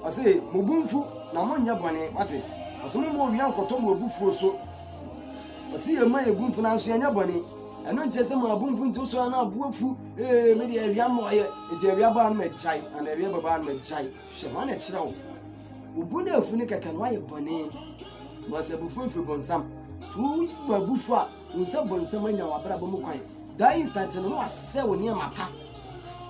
ɔse, mo bo mfu na monyɛ bɔne. Wate? Ɔse, momma owia nkɔtɔ mo abufuo so. Ɔse, yɛma yɛn bo mfu nanso yɛnyɛ bɔne. Ɛno nkyerɛ sɛ maa bo mfu nti wosɔre na abo afu. Ee, me deɛ awia mmɔɔyɛ. Enti awia baa no magyae, anaa awia babaa no magyae. Hwɛ, wɔakyerɛ wo, wo bo no afu no kɛkɛ na woayɛ bɔne, na ɔsɛ abufuo mfiri bonsam. To woyi w'abufuo a, wo nsa bonsam anya w'abrabɔ mu kwan. That instant no, na wasɛ wo nneɛma pa.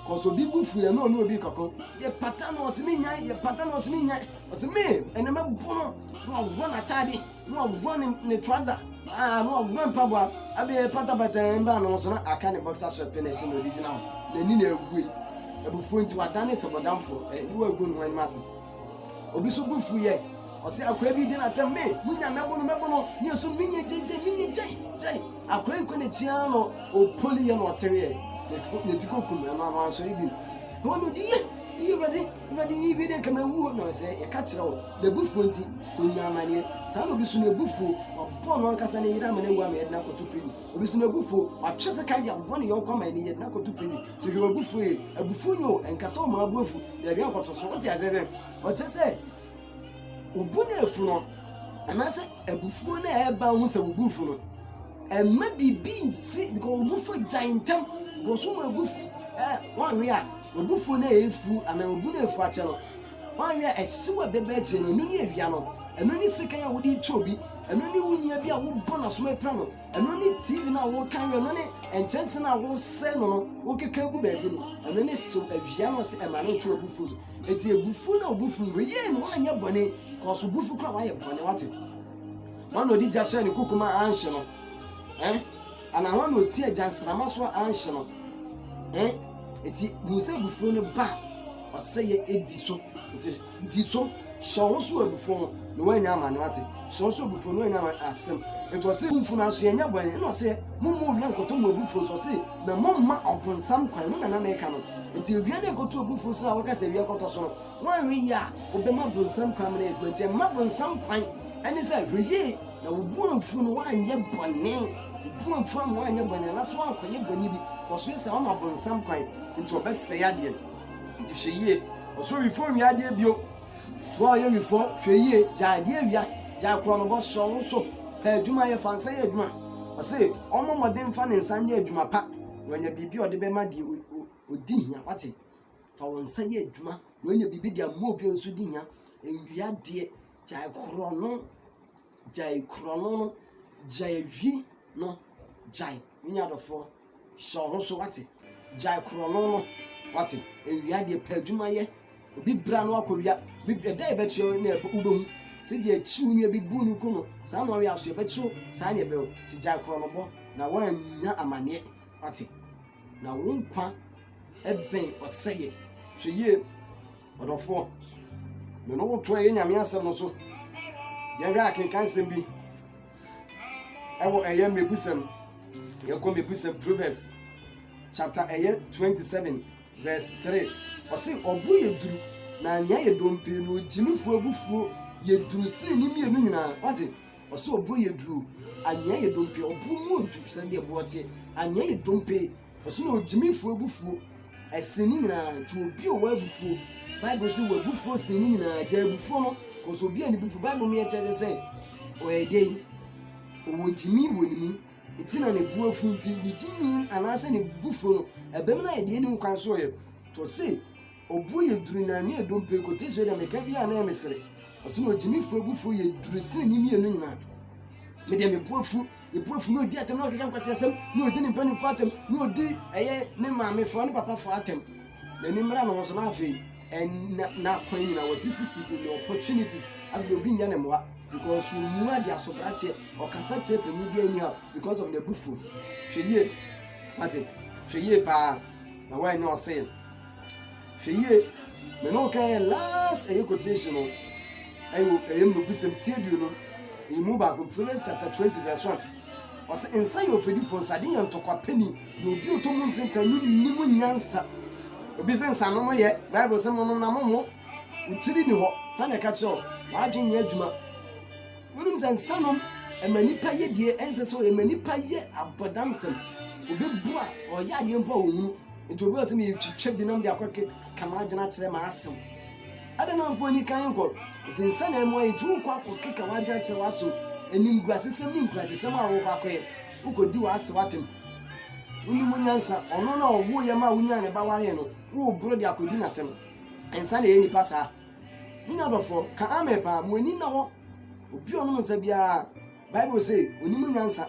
Cause obi bu fu yɛ na ɔne obi kɔko. Yɛ pata na ɔsɛ me nyan, yɛ pata na ɔsɛ me nyan. Ɔsɛ me, ɛnɛ mɛbo no, na waworɔ n'ataade. Na waguan ne ne trouser ah na waguan mpaboa ɛbi patapata yɛn baa ne ho so na aka ne boxer shirt pɛ na ɛhyɛ na ɔde gyina hɔ n'ani na abue abufuo nti wadane sɛ bɔdamfoɔ ɛ ne wagu ne ho anim ase obi so bu fu yɛ ɔsɛ akora bi di na tɛm me munya mɛbo no mɛbo no ne ɛso menyɛ gyegye menyɛ gyei gyei akora yi kɔ n'akyi ara na ɔpoli yɛ na ɔtereɛ ne ti kɔkum ɛno ano ansɔre bi na ɔno di yɛ yɛ awurade Na de yi wie dɛ, nka mewu o, na sɛ yɛka kyerɛ wo, n'abufuo nti, ɔnya amaneɛ. Saa na obi so n'abufuo, wabɔ ɔno ankasa ne yere ama no awu ama yɛde no akɔto prison. Obi so n'abufuo, watwe sekan de abɔ ne yɔnko ama yɛde no akɔto prison. So hwɛ w'abufuo yie. Abufuo nyɛ o, ɛnka sɛ ɔma wo bo afu, na ɛwɛn akɔto so. Wote aseɛ sɛ, ɔkyerɛ sɛ wo bo na afu no, anaasɛ abufuo no a ɛba wo ho sɛ wo bo fu no, ɛmma biribi nsi, because wo bo fu gyae ntɛm, because woma abufu, eh, woanwe a. W'abufuo no a ɛyɛ fuu anaa obu no a ɛfu akyɛ no, woanwɛn a ɛhyew a ɛbɛba akyire no, ɛno ne awia no, ɛno ne sekan a wode rekyɛ obi, ɛno ne wo nua bi a wobɔ n'aso ma ɛpira no, ɛno ne TV no a worekan wɛn, ɛno ne nkyɛnse no a woresɛe no no, wokeka gu baabi no, ɛno ne hyew awia no a ɔse ɛma no nto w'abufuo so. Enti abufuo no a obu fu no, yei no woanyɛ bɔne, kɔɔ so bu fu koraa a woayɛ bɔne, wate? Hwan na ɔde gya hyɛɛ ne kuku ma anhye no? Eh? Anaa hwan na ɔti agya nsramma so a anhye no? Ɛ? Enti hu sɛ abufuo no ba a, ɔsɛeɛ di so. Enti di so, hyɛ wo ho so wɔ abufuo ho, na woanya amane, wate? Hyɛ wo so abufuo, na woanya amane. Asɛm. Enti ɔse, Momfunu aso, yɛnyɛ bɔne. Ɛna ɔse, Momma owia nkɔtɔ mo abufuo so. Ɔse, Na momma ɔbonsam kwan. Ɛno na na meka no. Enti owia na ɛkɔto abufuo so a woka sɛ awia kɔtɔ so no, woanhwɛ yie a, wobɛma bonsam kwan ama no ayɛ adwuma. Enti mma bonsam kwan. Ɛne sɛ, hwɛ yie. Na wo boafo no wanyɛ bɔne, wo boafo amma wanyɛ bɔne, anaasɛ woankɔyɛ bɔne bi, na ɔso yɛ saa, woama bonsam kwan, enti ɔbɛsɛe adeɛ no. Enti hwɛ yie, ɔso wifɔ nwia adeɛ bio. Wo a woyɛ wifɔ, hwɛ yie, gyae adeɛ awia, gyae korɔnobɔ, sɔ wo so, pɛ adwuma yɛ, fa nsa yɛ adwuma. Ɔse ɔmmɔ mmɔden mfa ne nsa nyɛ adwuma pa, na wanya biribi a ɔde bɛma deɛ ɔdi hia, woate? Fa wo nsa yɛ adwuma, na woanya biribi de ama obi a ɔnso di hia, nwia adeɛ, Gyae korɔno, gyae korɔno no, gyae awi no, gyae. Wonya adɔfoɔ, hyɛ wo ho so, wate? Gyae korɔno no, wate? Nwia deɛ pɛ adwuma yɛ. Obi bra no akɔwia, obi ɛda a ɛbɛkyeɛ no na ɛbɛ- wobɛhu. Sɛdeɛ akyi wo nua bi bu no ku no, saa na ɔyɛ aso, ɛbɛkye wo, saa na ɛbɛ o. Nti gyae korɔnobɔ na woannya amaneɛ, wate? Na wo nkwa ɛbɛn ɔsɛeɛ. Hwɛ yie. Ɔdɔfoɔ, me ne wo toa yɛn Nyame asɛm no so. Yɛhwɛ akenkansɛm bi ɛwɔ ɛyɛ mmebusɛm. Yɛkɔ mmebusɛm Proverbs chapter ɛyɛ 27 verse 3. Ɔse ɔbo yɛ duru na nea yɛ dompe no ogyimifoɔ abufuo yɛ duru sene ne mmienu nyinaa. Wate? Ɔse ɔbo yɛ duru, anea yɛ dompe, ɔbo mu odu sɛdeɛ boɔ teɛ, anea yɛ dompe Ɔse na ogyimifo abufuo ɛsen ne nyinaa nti obi ɔwɔ abufuo bible sɛ wabufuo sen ne nyinaa gya abufuo no kɔsɛ obi a ne bufuo bible mu yɛ kyerɛ sɛ ɔyɛ dɛn ɔwɔ gyimi wɔ ne mu nti na ne bu afu nti ne gyimi anaasɛ ne bufuo no ɛbɛm no ayɛ deɛ ne nkwan so ɔyɛ tɔ se Obuo yɛ duru na ne yɛ dompe kote sɛ deɛ meka bi a na yɛ mesere. Ɔso na ogyimifo abufuo yɛ duru sene ne mmienu nyinaa. Me deɛ me buafu, me buafu na odi atam na ɔkeka nkwasi asɛm na odi ne mpanimfoɔ atam na odi ɛyɛ ne maamefoɔ ne papafoɔ atam. N'ani mmra ne ho so na afei ɛna n'akwan nyinaa wɔsisisi in the opportunities afei obi nyɛ ne mmoa because ɔmu ade asobrakyeɛ ɔkasa kyerɛ panyin bi anyhow because of n'abufuo. Hwɛ yie, wate, hwɛ yie paa na woanyɛ ɔsee. hwɛ yie me ne wo kan yɛ last ɛyɛ quotation no ɛyɛ ɛyɛ mmebusɛm ti aduonu emu baako proverbs chapter twenty verse one ɔsɛ nsa yɛ ofedifo nsade yɛ ntɔkwa pɛni na obi ɔtɔ mu ntenta no nni mu nyansa obi sɛ nsa no mo yɛ bible sɛ mo nom na mo mo wotiri ni hɔ na na ɛka kyerɛ wadwe nyɛ adwuma wonim sɛ nsa nom ɛma nipa yɛ deɛ ɛnsɛ sɛ ɛma nipa yɛ abɔdamsɛm obi bu a ɔyɛ adeɛ mpo a wɔhunu Enti obi wɔ sɛ metwitwa binom de akɔ ka m'adwene akyerɛ m'asew. Adɛn na amfa ɔni kan nkɔ? Enti nsa na ɛmmoa yɛn, enti worekɔ akɔkeka w'adwene akyerɛ w'asew, animguasesɛm ne nkurasesɛm a worekɔ akɔyɛ. Wokodi w'asew atɛm. Wonni mu nyansa. Ɔno na ɔwoo yɛn maa wonyaa ne ba waree no, woreboro de akodi no atɛm. Nsa na ɛyɛ nnipa saa. Me nua dɔfoɔ, ka amen paa. Mo ani nna hɔ. Obi a ɔnom nsa biara, Bible se, onni mu nyansa.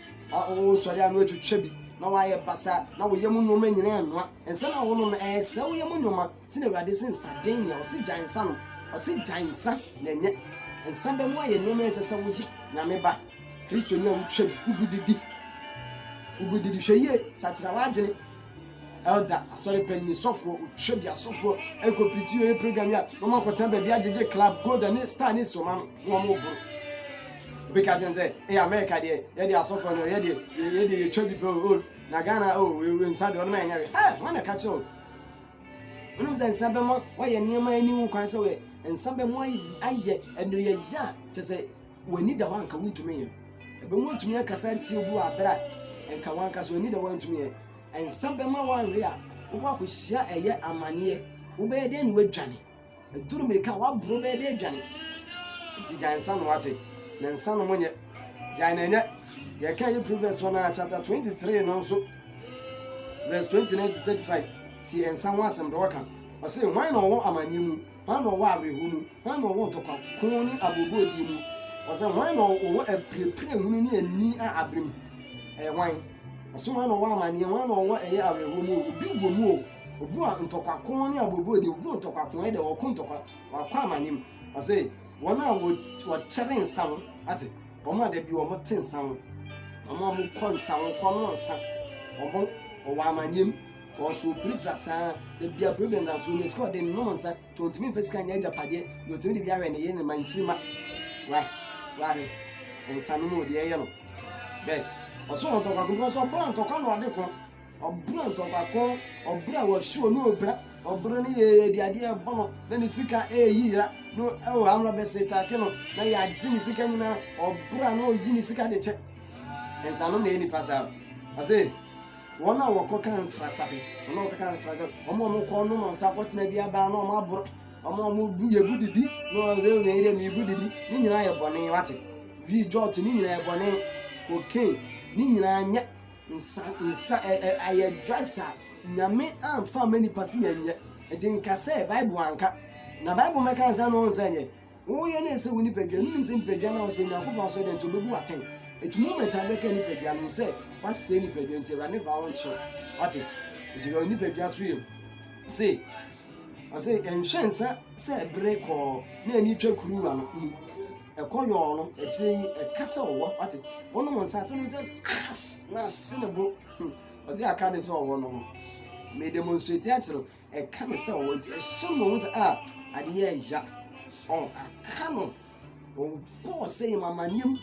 a wosɔre a na watwitwa bi na wayɛ basa na wo yam nneɛma nyinaa anoa nsa no a wonom no ɛresɛ wo yam nneɛma nti na awurade se nsa den nyɛ ɔse gyae nsa nom ɔse gyae nsa na ɛnyɛ nsa bɛ mu ayɛ nneɛma ɛsɛ sɛ woyɛ nyame ba kristo nyɛ wotwa bi wogu didi wogu didi hwɛ yie sakyera w'adwene Elder, asɔre panyin, sɔfo, otwa bi asɔfo, ɛkɔ pirikyi yɛ program yi a, wɔn akɔtena baabi agyegye club, gold ne star ne soma no, wɔn boro. Obi ka kyerɛ sɛ, ɛyɛ America deɛ, yɛde asɔfo no, yɛde yɛde yɛtwa bi pɛ o, oh, na Ghana o, oh, wei nsa deɛ, ɔno ma yɛnyɛ wei. Ɛ, wɔn na ka kyerɛ o. Wonim sɛ nsa bɛma wɔayɛ nneɛma ani wo kwan sɛ wɔyɛ nsa bɛma ayɛ ɛno yɛ yɛ a kyɛ sɛ W'ani da hɔ a nka wontumi nyɛ. Ɛbɛma woatumi akasa atie obi wɔ abere a nka w'ankasa w'ani da hɔ a wontumi nyɛ. Nsa bɛma woanwe a wobɔ akɔhyia ɛyɛ amaneɛ. Wobɛyɛ dɛn na woadwane? Aduru mmirika a woaboro bɛyɛ dɛn adwane? Nti gyae nsa nom ate. Na nsa nom nyɛ. Gyae na ɛnyɛ. Yɛka ɛyɛ Proverbs hɔ no a chapter 23 no nso verse 29 to 35 si nsa ho asɛm dɛ ɔka ɔse, Hwan na ɔwɔ amaneɛ mu? Hwan na ɔwɔ awerɛhonu? Hwan na ɔwɔ ntɔkwa ko ne abuobuodie mu? Ɔsɛ hwan na ɔwɔ apirepire hunu ne ani a abere mu? Ɛyɛ hwan? Ɔsɛ hwan na ɔwɔ amaneɛ? Hwan na ɔwɔ ɛyɛ awerɛhoɔ mu o? Obi wɔ mu o. Obi wɔ ntɔkwa ko ne abuobuodie mu. Obi wɔ ntɔkwa ko ɛdɛ ɔko ntɔkwa wakɔ amaneɛ mu. Ɔsɛ wɔn a wɔkyɛre nsa ho ate wɔn a dabi wɔn te nsa ho wɔn a wɔkɔ nsa ho kɔnɔ nsa wɔn wɔ amaneɛ mu. Ɔso opiri dza saa ara, bi a problem na so onya sika a ɔdze nom nsa ntsi onntumi mmfa sika nnyɛ egyapadeɛ na otumi dze bi awɛn ne yer ne mba nkyirima. Wah wahwɛ nsa no mu o deɛ ɛyɛ no bɛ ɔso wɔ ntɔkwa ko because ɔbra ntɔkwa na ɔde ko ɔbra ntɔkwa ko ɔbra wɔ show no obra ɔbra ne yɛ yɛ adeɛ ɛbɔ no na ne sika ɛɛyi yira no ɛwɔ amra bɛ se take no na yɛ agye ne sika nyinaa ɔbra na ɔyi ne sika de kyɛ nsa nom na yɛ nipa saa ɔse. Wɔn a wɔkɔka mfrasabe, wɔn a wɔkɔka mfrasabe, wɔn a wɔkɔ nom nsa kɔtena bi aban na wɔn aboro, wɔn a wɔbu yɛbu didi na wɔn sɛ wɔn yɛrɛ mibu didi, ne nyinaa yɛ bɔne wate. Wii jɔt ne nyinaa yɛ bɔne, cocaine ne nyinaa nyɛ nsa nsa ɛ ɛ ayɛ drugs a nyame anfa ama nipa si yɛn nyɛ. Ɛdi nka sɛ Bible anka na Bible mɛka nsa na wɔn nsa nyɛ. Wɔn yɛ dɛ sɛ wɔn nipadua no nim sɛ nipadua no a ɔsɛ Nyankopɔn asɔ dɛ nti obebu atɛn. Eti moment a bɛka nipadua no sɛ wasɛ nipadua nti awurade fa wɔn kyerɛ. Wate? Nti na nipadua so yɛ se ɔsɛ ɛnhwɛ nsa sɛ bere kɔɔ na ani twa kuruwa no mu. Ɛkɔ yɔɔ no akyire yi ɛka sɛ ɔwɔ wate. Wɔn wɔn nsa so no just ass na se ne bo. Ɔsɛ aka ne sɛ ɔwɔ no ho. Me demonstrate akyerɛ Ɛka ne sɛ ɔwɔ nti ɛhyɛ no ɔho sɛ a ade yɛ ɛya ɔn aka no ɔbɔɔ sɛ yɛ mamanneɛ mu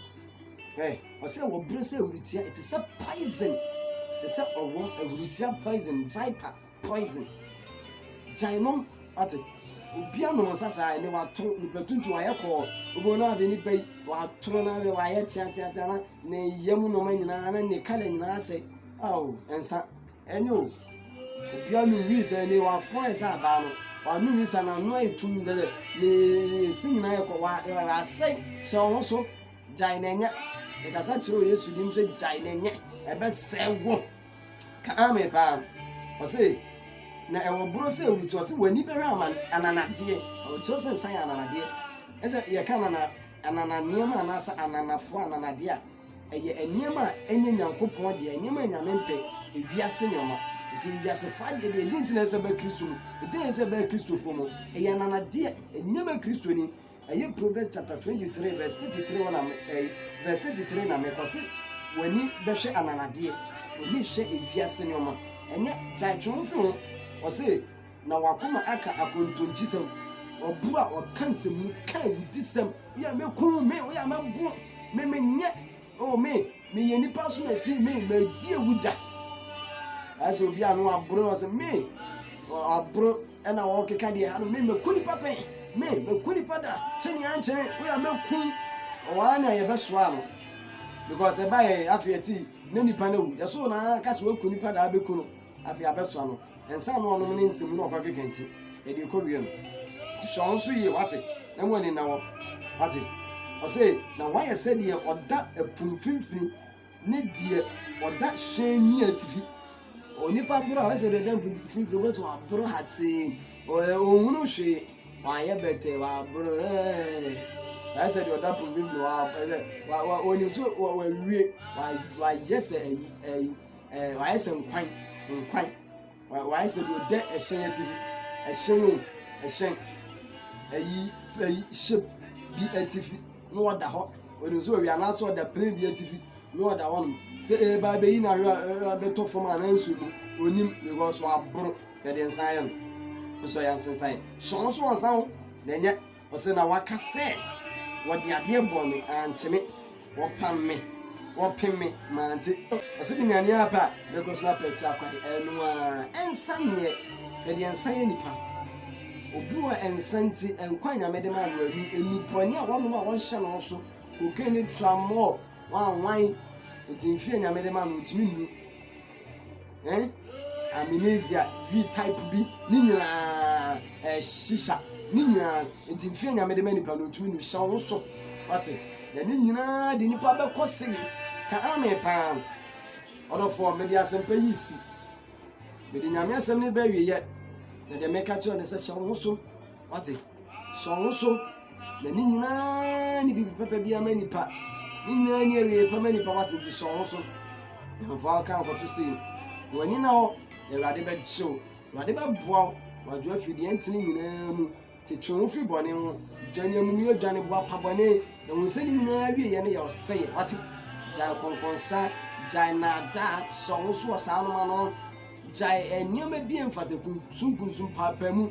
ɛ ɔsɛ wɔ berɛ sɛ awurutia ɛte sɛ poison te sɛ ɔwɔ awurutia poison viper poison gyae nom ate obi anom nsa saa ɛne watoro nipa tuntum ayɛ kɔɔ obi no abe nipa yi watoro na abe wayɛ teateatea na ne yam noma nyinaa na ne kala nyinaa sɛ ao nsa Ɛnyɛ o. Obiara num wii sɛ ne wafɔn ayɛ sɛ abaa no. Wanum wii sɛ n'ano ayɛ tumm dɛ dɛ ne nse nyinaa yɛ kɔ wa asɛe. Hyɛ wo ho so. Gyae na ɛnyɛ. Ɛkasa kyerɛ wɔ Yesu dim sɛ gyae na ɛnyɛ. Ɛbɛsɛe wo. Ka ame paa. Ɔse na ɛwɔ borɔ sɛ ɛwɔ ti ɔse w'ani bɛhwɛ aman ananadeɛ. Ɔkyerɛ sɛ nsa yɛ ananadeɛ. Ɛsɛ yɛka anana anana nneɛma anaasɛ ananafoɔ ananadeɛ a Ɛyɛ nneɛma a ɛnyɛ Nyankopɔn deɛ, nneɛma a Nyame mpɛ, ewiase nneɛma. Nti wiasefo adeɛ deɛ, ɛdi nti na ɛsɛ bɛ Kristo mu, ɛdi na ɛsɛ bɛ Kristofo mu. Ɛyɛ ananadeɛ, ɛnyɛ bɛ Kristoni. Ɛyɛ Proverbs chapter 23 verse 33 hɔ na me, eh, verse 33 na mekɔ se, w'ani bɛhwɛ ananadeɛ, w'ani hwɛ ewiase nneɛma. Ɛnyɛ gyae twe ho fi ho. Ɔse, Na w'akoma aka akontomkyisɛm. W'abu a ɔka nsɛmhu ka awudisɛm. Woyɛ a mekum me, woyɛ a mɛbo me, menyɛ, o me, meyɛ nipa so na si me, madi awu da. Ɛsɛ obi a no waboro na ɔsɛ me, waboro ɛna wɔkeka deɛ ha no, me mɛku nipa pɛn, me mɛku nipa da, kye ne ankyene, woyɛ a mɛkum, ɔwaa na yɛbɛsoa no. Because ɛba yɛ afei ɛte na nipa no awu, yɛsoo na aka sɛ waku nipa da abɛku no, afei abɛsoa no. Nsa no ɔnom ne nsam na ɔkɔ akeka nti, ɛde ɛkɔ wia mu. Nti hwɛ wo so yie, wate, na mu ani nna hɔ. Wate? Ɔse, na woayɛ sɛ deɛ ɔda ɛpo mfimfini ne deɛ ɔda hyɛn ni atifi. Onipa borɔ a, ɔsɛ deɛ ɔda mpo mfimfini, ɔbɛ sɛ waborɔ hatee, ɔhunu hwee, wayɛ bɛtɛ, waborɔ, ɛɛ, sɛ deɛ ɔda po mfimfini, wa, wa, wa, onim so, wa, wawie, wa, wayɛ sɛ ɛyi, ɛyi. Ɛɛ, wayɛ sɛ nkwan, nkwan. Wayɛ sɛ deɛ ɔda ɛhyɛn atifi, ɛhyɛn o, ɛhyɛn. Ayi, ayi, ship bi atifi na ɔda hɔ. Ɔnim sɛ ɔwia no asɔ ɔda plane bi atifi na ɔda hɔ nom. Sɛ ɛɛba abɛyi no ahwɛ a, ɛbɛtɔ fam a nanso no, ɔnim because waboro na ɛde nsa ayɛ no. Nso yɛ nsensan. Hyɛn nso ɔnsa ho na ɛnyɛ Ɔse na waka sɛ wɔde adeɛ bɔɔ me antene wɔpam me wɔpem me mante ɔse me nyanee apa a mɛkɔ so apɛɛte akwade ɛno aa ɛnsa nneɛ hwɛdeɛ nsa yɛ nipa obi wɔ ɛnsa nti nkwa a nyame de maa no anu nnubɔne a wɔnom a wɔnhyɛ no so cocaine ne tramɔɔ wanwan nti mfeɛ a nyame de maa no ɔntumi nnu Eh, amnesia, bi type bi, ne nyinaa eh, shisha, ne nyinaa nti mfeɛ nyame de ma nipa no ntumi no hyɛ wo so wate na ne nyinaa de nipa bɛkɔ se ka ame paa ɔdɔfoɔ mede asɛmpa yi si mede nyame asɛm ne bɛawieɛ na deɛ meka kyerɛ ne sɛ hyɛ wo ho so Wate? Sɛ ɔwo so, na ne nyinaa ne biribi papa bi ama nipa. Ne nyinaa ne awie pa ma nipa wate nti sɛ ɔwo so. Ɛhɔfoɔ aka akɔto se yi. W'ani na hɔ, na Awurade bɛgye wo. Awurade bɛboa wo. Wadwo afiri deɛ ɛnte ne nyinaa mu. Te twe wo firi bɔne ho. Dwane amumuyɔ, dwane boa pa bɔne. Na hu sɛ ne nyinaa awieɛ no yɛ ɔsɛeɛ. Wate? Gyae kɔnkɔnsa, gyae naadaa, sɛ ɔwo so wɔ saa anoma no. Gyae nneɛma bi a ɛmfata, kunsunkunsun, paapaamu.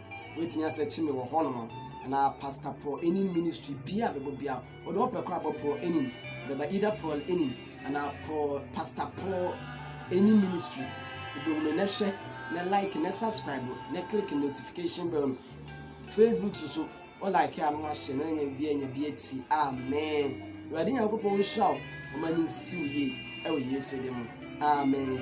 Wetumi asɛ kye me wɔ hɔ nom na pastor prɔ enim ministry bia a bɛbɔ bia ɔde ɔpɛ kora bɔ prɔ enim bɛba either prɔl enim ana prɔ pastor prɔ enim ministry wobɛhunu na hwɛ na like na subscribe na click notification bell no facebook so so o like a no ahyɛ na nya bia nya bia ti amen awurade nyankopɔn nhyira wo ɔma ne nsiw yie ɛwɔ yesu de mu amen